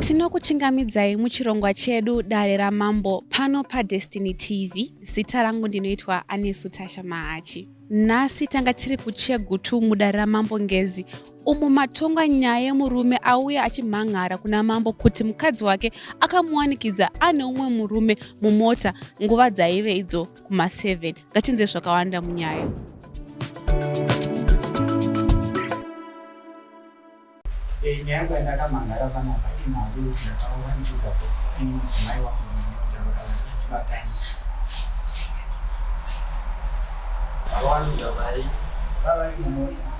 tinokuchingamidzai muchirongwa chedu dare ramambo pano padestiny tv zita rangu ndinoitwa anesu tasha mahachi nhasi tanga tiri kuchegutu mudare ramambo ngezi umo matonga nyaya yemurume auya achimhan'ara kuna mambo kuti mukadzi wake akamuwanikidza ane umwe murume mumota nguva dzaive idzo kuma7 ngatinze zvakawanda munyaya eh, nyaya yangu yandakamhan'ara panapa imhando yokuti ndakawanikidza kuti ane mudzimai wangu mumota vakavachibatana vakawanikidza pai vavari mumota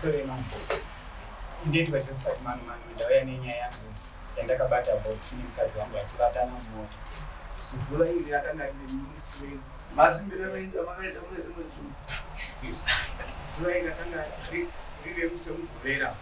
Sorry mama. Ndiye tikachosika kumano mano ndauya nenyaya yangu yandakabata box nemukadzi wangu achibatana mumota. Zuva iri akanga ari nemusi wenzi. Masimbiro emenzi amakaita mune zimwe zvinhu. Zuva iri akanga ari riri remusi wemuguvera.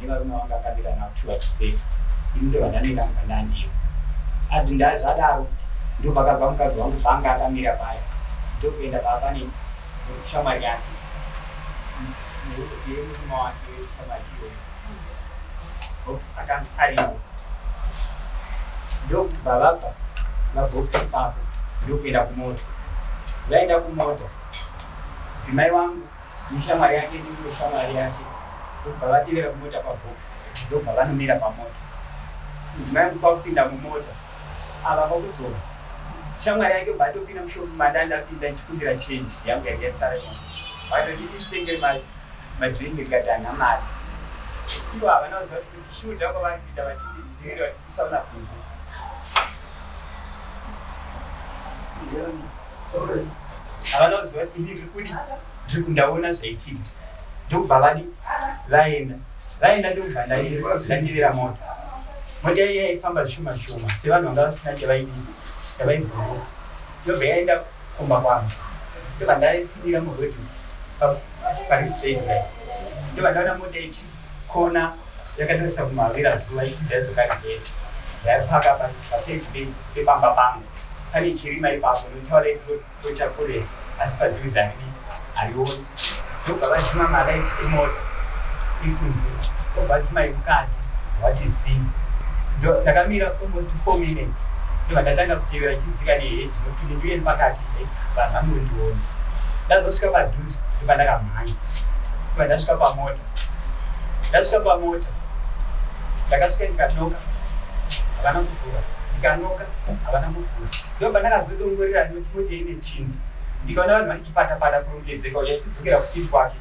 nevarume vanga akabira navo chuva chisese ini ndovandaneka mukandandiyo adi ndazvadaro ndopakabva mukadzi wangu panga akamira paya ndokuenda pava pane shamwari yake nemurume wake shamwari iyoyo box akanga ariwo ndokubva vabva vabox ipapo ndokuenda kumota vaenda kumota dzimai wangu neshamwari yake ndiyo shamwari yacho ndokubva vatevera kumota kwaBox ndokubva vanomira pamota mudzimai uku kwakupinda mumota ava kwakudzoka shamwari yake kubva atopinda mushopu manda ndapinda ndichikumbira change yangu yanga yasara vatotititengeri madrink ndikati hana mari ivo havana kuziva kuti shuda kwavari kuita vatidzivirira vatiisa kuna bvungu havana kuziva kuti ini rikudi rikudi ndaona zvaitika ndokubva vadi vaenda vaenda ndokubva ndandivira mota mota iya yaifamba zvishoma shoma sevanhu vanga vasina chavaidii chavaibvoo ndobva yaenda kumba kwangu ndobva ndaifumira murodi pari straight ndobva ndaona mota ichii Kona yakatarisa kumavira zuva ichibva yadzoka reverse yaipaka pa paside pe pepamba pangu pane chirima ipapo ndotaura ito toita kure asi paziri zandidi harioni ndobva vadzima malights emota iri kunze obva dzimai mukati wati zii ndo ndakamira almost four minutes ndobva ndatanga kutevera chidzika neheji nokuti ndindiye ndipakati he vanhu vanondiona ndazosvika padhuze ndobva ndakamhanya ndobva ndasvika pamota ndasvika pamota ndakasvika ndikanoka havana kuvhura ndikanoka havana kuvhura ndo pandakazodongorera noti moti ine tindi ndikaona vanhu vari chipatapata kurongedzeka uya ichidzokera kusiri kwake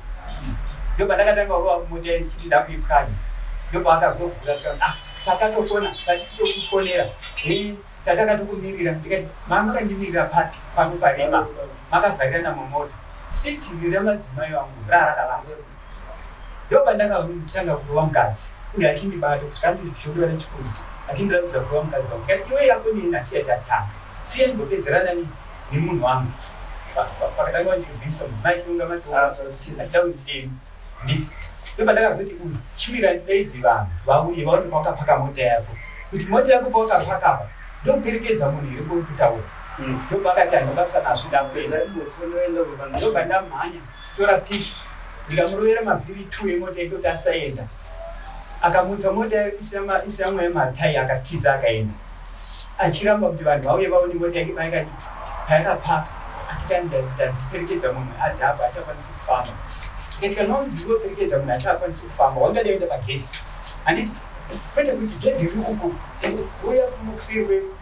ndo pandakatanga kurova mota ye ndichiti ndakuipwanya ndo paakazovhura ah, takatokona tatitokufonera hei tatakatokumirira ndikati mamukandimirira papi pano parema makavharirana mumota siti rira madzimai vangu raarakavaa ndopandakatanga kurova mukadzi uye achindibata kusvika anditi zvodo rechikunzi achindiratidza kurova mukadzi wangu kati iwe yako nei nhasi yati atanga siya ndimbopedzerana nemunhu wangu pakatanga kundibvisa mudzimai achirunga matoachida kunditema nditi ndopandakazoti uyu chimira ndidaizi vanhu vauye vaone pawakapaka mota yako kuti mota yako pawakapaka apa ndokuperekedza munhu here kuri kutaura ndopakati andibasa nazvo ndakuenda ndopandamhanya Tora pic ndikamurovera mavhiri two emota yekoti asaenda akamutsa mota isina mweya matai akatiza akaenda achiramba kuti vanhu vauye vaone mota yake payakapaka atitandiperekedza munhu adhaba achakwanisi kufamba ikatika nonzi iweperekedza munhu achakwanisi kufamba wangadaenda pagedhi handiti kwete kuti gedhi riri uku uya kunokuseri kwedu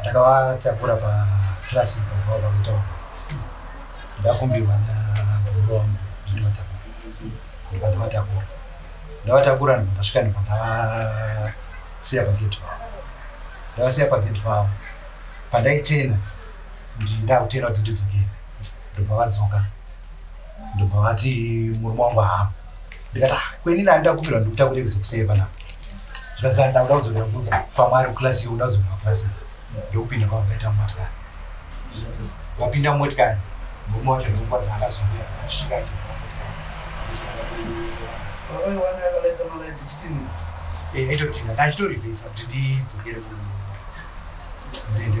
ndakavatakura paklasi baba vakutaura ndakumbirwa nababa wangu ndivatakura ndikandivatakura ndavatakura ndikasvika ndikandavasiya pagedhi pavo ndavasiya pagedhi pavo pandaitena ndindakutena kuti ndidzokere ndobva vadzoka ndobva vati murume wangu hama ndikati ah kweni nani ndakumbirwa ndikuta kuti kuzokusei panapa zvikadzana ndakuda kudzokera kwamwari kuclass yo kuda kudzokera kuclass ndokupinda kwamakaita motikari wapinda motikari murume wacho ndokwadza akazouya achisvika aitotinga ndachitorivhesa kuti ndidzokere kuende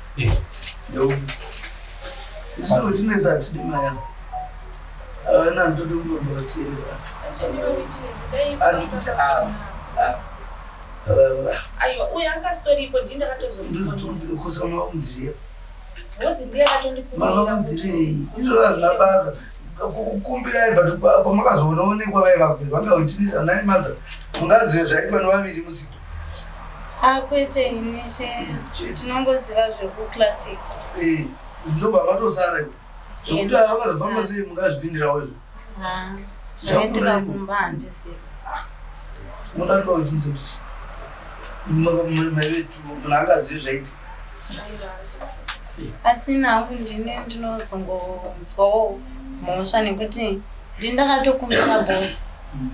aiwa uyo anga asitoripo ndii ndakatozokuzomaundiziva rozi ndiye akatondikumiraundirei izova zvina basa kukumbirai but kwamakazoona onekwa vaivakuvangaoitinisa nai mother mungazive zvaitwa nevaviri musiku Ah kwete ini she Chete. tinongoziva zvekuclassic. Eh, ndobva matosara iwe. Zvekuti Yeah, avakazofamba matosara. sei mungazvipindirawo izvo. Ah, Zvakura zvekuenda iwe. kumba handisi. Moda kuti wachinzi kuti maivetu munhu angazivi zvaiti. asi nangu ndini ndinozongonzwawo mhosva nekuti ndini ndakatokumbira botsi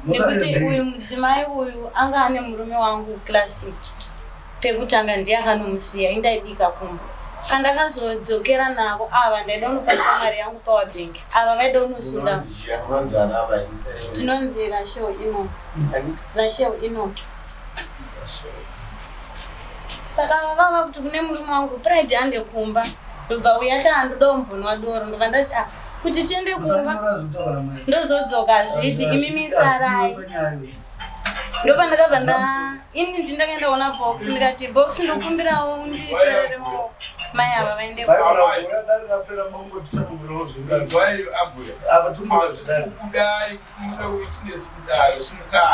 nekuti uyu mudzimai uyu anga ane murume wangu classic pekutanga ndiye akanomusiya indaibika kumba kandakazodzokera navo ava ndaida unopasa mari yangu power bank ava vaida unosunda tinonzi rashel ino rashel ino saka vava vakuti kune murume wangu pride ande kumba ndobva uya taa ndoda umbonwa doro ndobva ndati a ah, kuti tiende kumba ndozodzoka zviti imi misarai ndopa ndakabva nda ini ndi ndakaenda kuona box ndikati box ndokumbirawo nditorere maoko mai ava vaende kuda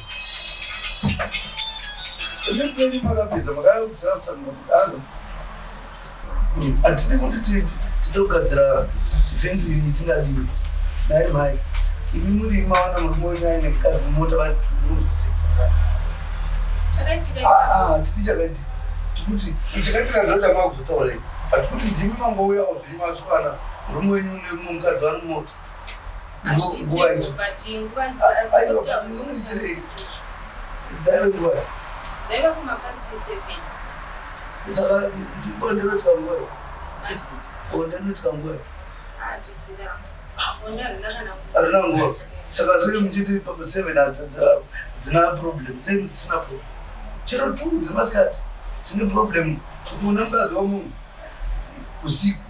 Hatidi kuti titogadzira venue isingadiwi. Dai mai imi muri mawana murume wenyu aine mukadzi mota vatimuzi. Chakaitika. Ah, ah, hatidi chakaitika. Tikuti chakaitika ndozvanga kuzotaura. Hatikuti ndimi mangouyawo zvenyu mazukana murume wenyu nemumukadzi wari mota. saka zviri muchiti seven hadzina problem seven dzisina problem chero two dzemasikati dzine problem unengaziwa munhu usiku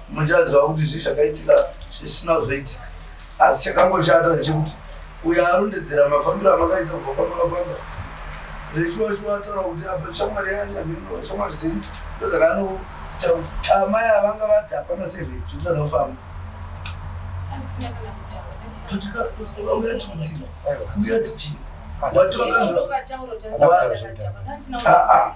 Muchaziva kuti zii zvakaitika zvisina kuzoitika asi chakangoshata chekuti uyo arondedzera mafambiro amakaita kubva kwamakafamba zveshuwa shuwa ataura kuti apa shamwari yani amino shamwari dzini ndozaka anoita kuti tama yavanga vadhakwa na seven zvibisana kufamba uyatichii wati wakanzwa aa ah, ah.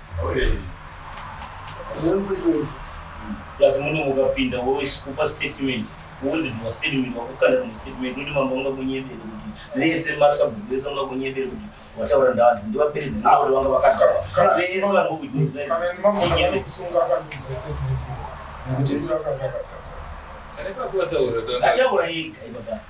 plus muno mukapinda wokupa statement wondinwa statement wakukanda rimwe statement noti mambo ungakunyebere kuti vese masabhuku vese ungakunyebere kuti wataura ndavanzi ndivapere ndinoa kuti vanga vakagara vese vangokunyebere ataura yega ibaba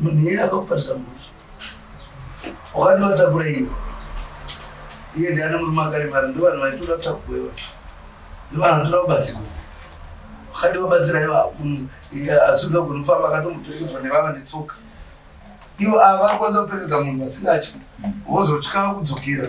munhu yeye akakufarisa muzi wakati watakura iye iye ndiani murume akaremara ndo vanhu vaitoda kutakuwewa ndo vanhu vatoda kubatsirwa wakati wabatsira ivo asunga kunofamba akatomboperekedzwa nevava netsoka ivo ava vakwanisa kuperekedza munhu vasingatyi vozotya kudzokera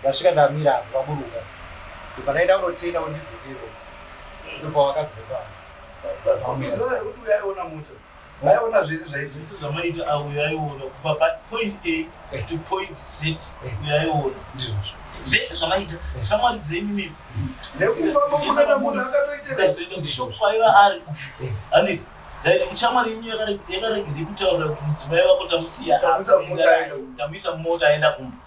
Ndasvika ndamira apo vaburuka ndopanaenda kunotenga kuti ndidzokewo ndopawakadzoka vaiona zviri zvaizvese zvamaita auyo aiona kubva papoint a to point z uyo aiona ndizvozvo zvese zvamaita shamwari dzenyu mimi nekuvaaakatoitaaishop kwaiva ari handiti like shamwari yenyu yakaregere kutaura kuti mudzimai vako tamusiya tamuisa mumota aenda kumba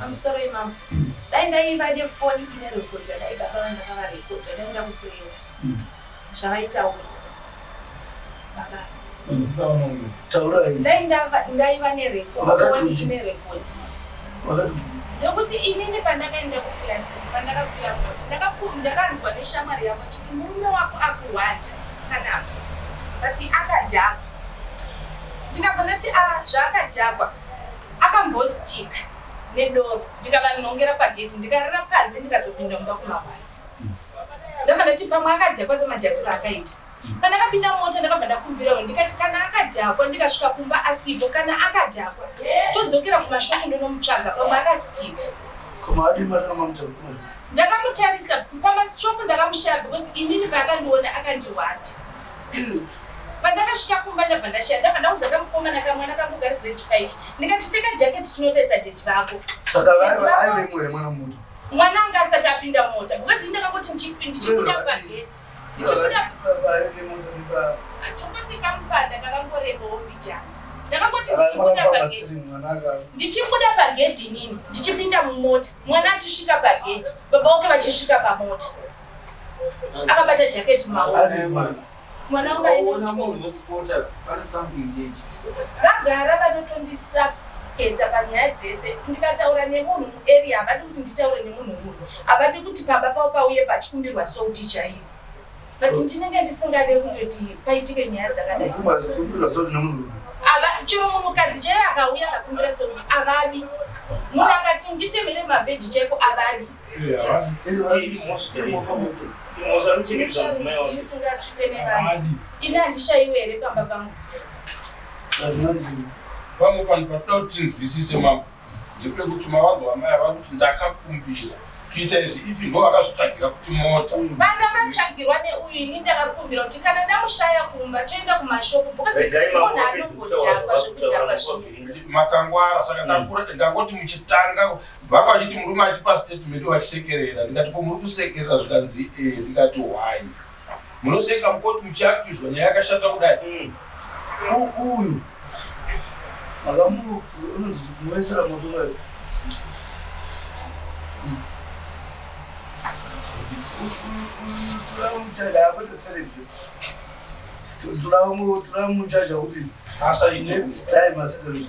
I'm sorry mom. Dai ndaiva nefoni ine rekodha dai baba vandakava rekodha dai ndakupurewa mm. zvavaitaura baba mm. taurai dai ndaiva nerekofoni ine rekodhi ndokuti inini pandakaenda kukilasi pandakakuya moti ndakanzwa neshamwari yavo chiti murume wako akuhwanda kanapo but akadhakwa ndikabva ndati a ah, zvaakadhakwa Akambostick nedoor ndikavanhongera pagate ndikarara panze ndikazopinda mumba kumavara. Ndakafana kuti pamwe akadhakwa semadhakiro akaita. Kana akapinda mota ndakabva ndakumbirawo ndikati kana akadhakwa ndikasvika kumba asipo kana akadhakwa todzokera kumashopu ndonomutsvaga pamwe akastika. Koma adi mari namamutsvaga kumashopu. Ndakamutarisa pamashop ndakamushaya because inini paakandiona akandihwata. Umm pandakasvika kumba ndabva ndashaya ndabva ndaudza kamukomana kamwana kangu kari grade five ndikati pfeka jacket tinotaisa deti vako saka vaiva aive mwere mwana mutu mwana anga asati apinda mota because inde vakuti ndichipinda pageti ndichibuda tokoti kamupanda kakangorebawo mbijana ndakangoti ndichibuda pageti ndichibuda pagedhi inini ndichipinda mumota mwana achisvika pagedhi baba wake vachisvika pamota akabata jacket maoonamwanauaagara vanotondisubscata panyaya dzese ndikataura nemunhu muarea havadi kuti nditaure nemunhu muno havadi kuti pamba pavo pauye pachikumbirwa souti chaiyo but ndinenge ndisingade kutoti paitike nyaya dzakadai chero munhukadzi chaiye akauya akakumbira souti avadi munhu akati nditemere mavheji chaiko avadi ini handishaiwe here pamba pangu pamwe panhu patinoda kuti tinzwisise mambo ndepekuti mavangu amai ava kuti ndakakumbira kuita izi ipi ndo vakazvitsvagira kuti mota vana vatsvagirwa neuyu ini ndakakumbira kuti kana ndamushaya kumba toenda kumashopu bcausemunhu anongodhakwa zvekudhakwa zvinhu makangwara saka ndangoti muchitanga Vanga vachiti murume achipa statement vachisekerera ndikati ko muri kusekerera zvikanzi ee ndikati why munoseka mukoti muchiakizwa nyaya yakashata kudai mm. uyu akamunoisira moto wayo turamuchaja kuti asa next time asikazvii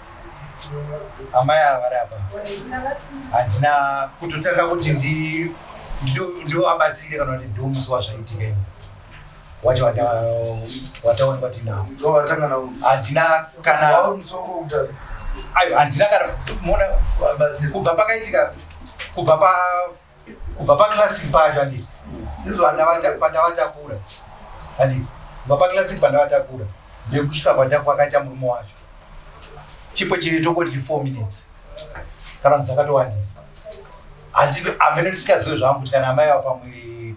amai ava vari apa handina kutotanga kuti ndivabatsire kana kuti ndiwo musi wazvaitika imi wacho wataonekwa tinao handina kana handina kana kubva pakaitika kubva pa kubva paclassic pacho anditi pandavatakura anditi kubva paclassic pandavatakura nekusvika kwakaita murume wacho chipo chiri tokoti four minutes kana dzakatowandisa amene ndisingazive zvangu kuti kana amai ava pamwiri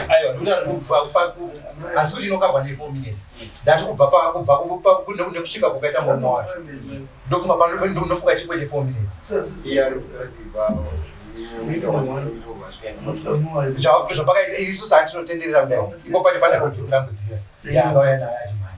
aiwa ndikuti ari kubva asi kuti inokabwa ne four minutes ndati kubva pakunekune kusvika kukaita murume wacho ndofunga panofunga chikwete four minutes zvapakaita isu saatinotenderera kudai iko pane pane kudambudzira yaanoyanayaimai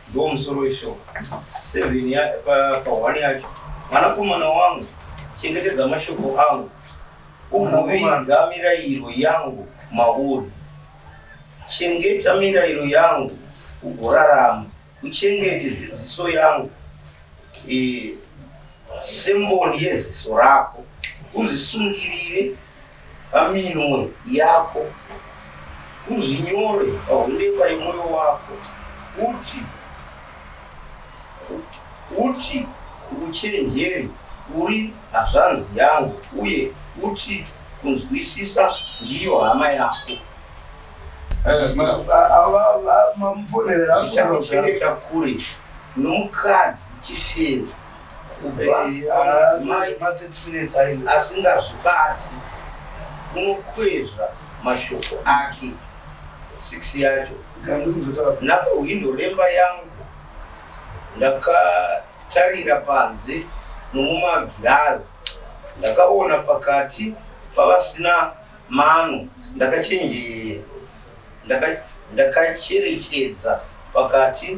Ndiwo musoro weshoko. Seven ya pa pa one yacho. Mwanakomana wangu, chengetedza mashoko angu. Ugoviga mirayiro yangu mauri. Chengeta mirayiro yangu ugorarama. Uchengete dzidziso yangu. Eh, semboni yeziso rako. Uzvisungirire paminwe yako, uzvinyore pahundeva yemwoyo wako, uti uti uchenjeri uri hazvanzi yangu, uye uti kunzwisisa ndiyo hama yako. Chichakupengeta kure nomukadzi chifeve. asingazvibati unokwezva mashoko ake six yacho napahwindo remba yangu ndakatarira panze nomumagirazi ndakaona pakati pavasina mano ndakacherekedza pakati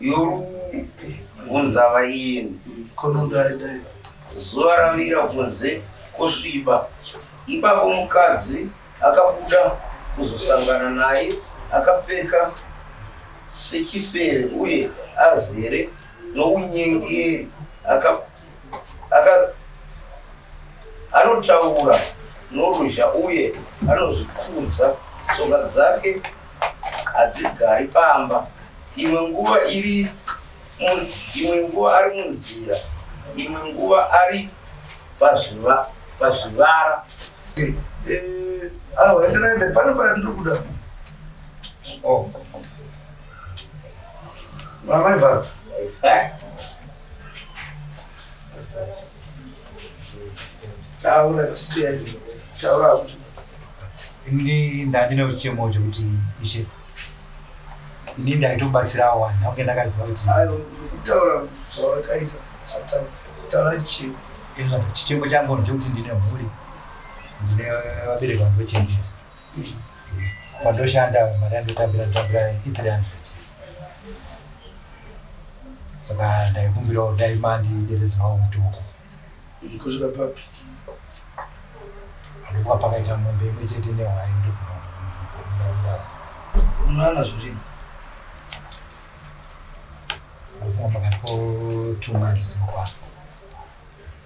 yobvunza vaeni zuva ravira kunze kosviba ipapo mukadzi akabuda kuzosangana naye akapfeka sechifere uye azere nounyengeri Aka anotaura noruzha uye anozvikudza, tsoka dzake hadzigari pamba. Imwe nguva iri imwe nguva ari munzira, imwe nguva ari pazviva pazvivara. Eh, eh, ah, enderai pane pandiri kuda. Oh. Mama Ivana. taura siyai taura kuti ini ndandine uchemo chekuti ishe ini ndaitobatsirawo vanhu ndakunge ndakaziva kuti ayo kutaura zvaurikaita taura chichemo chichemo changu ndechekuti ndine mhuri ndine vabereki vangu vechemberi Pandoshanda mari yandotambira ndotambira i300 saka ndaikumbirawo dai mandideredzawo mutuku kusvika papi adokuva pakaita mombe imwe chete nehwai ndokunaira unana zvirini ndokuva pakati po two months zvinokwana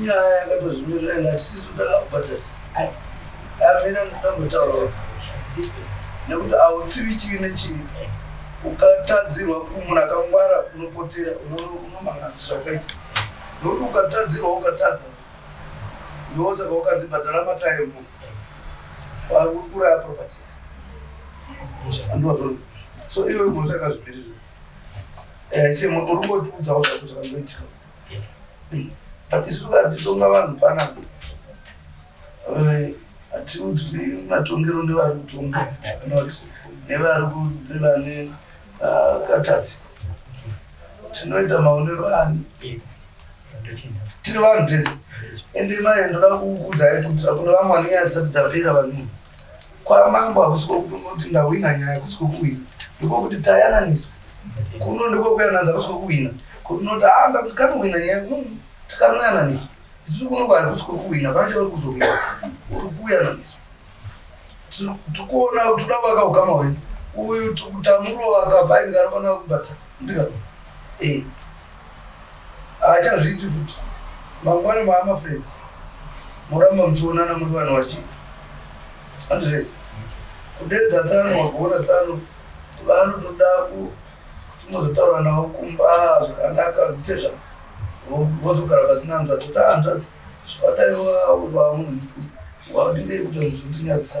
Nyaya yakatozvimirira ina tisisu takabhadharisa. Amina munoda kutaura nekuti hautsivi chivi nechivi ukatadzirwa munhu akangwara unopotera unomhanganisira ukaita nokuti ukatadzirwa ukatadza ndosaka ukanzi bhadhara mataimu wakuraya propati so iwe mhosva yakazvimirira eh, uri ngotiudzawo zvako zvakangoitika but isu vatitonga vanhu panapa hatiudzwi matongero nevari kutonga nevari nevane ah, katadzi tinoita maonero ani tiri vanhu tese ende mai ndoda kukuudzai kuitira kune vamwe vanenge vasati dzapera vanhu kwamambo hakusi kwokunoti ndahwina nyaya kusi kwokuhwina ndikwokuti tayananiswa kuno ndikwokuyananza kusi kwokuhwina kunoti a ah, ndikatohwina nyaya mm, tikanoyananiswa tiri kuno kwakusi kwokuhwina pane chauri kuzohwina uri kuyananiswa tikuona tikuda kuvaka ukama hwenyu uyu tikutamurova kavhaini kanofanira kubata ndika e eh. haachazviiti futi mangwani maama fred moramba muchionana muri vanhu vachii andre kudedza tsano wagoona tsano vanotoda ku unozotaura navo kumba zvakanaka zvite zva vozogara pasina hanzvadzi ta hanzvadzi zvawadaiwa uri vamunhu waudingei kuti zvinyadzisa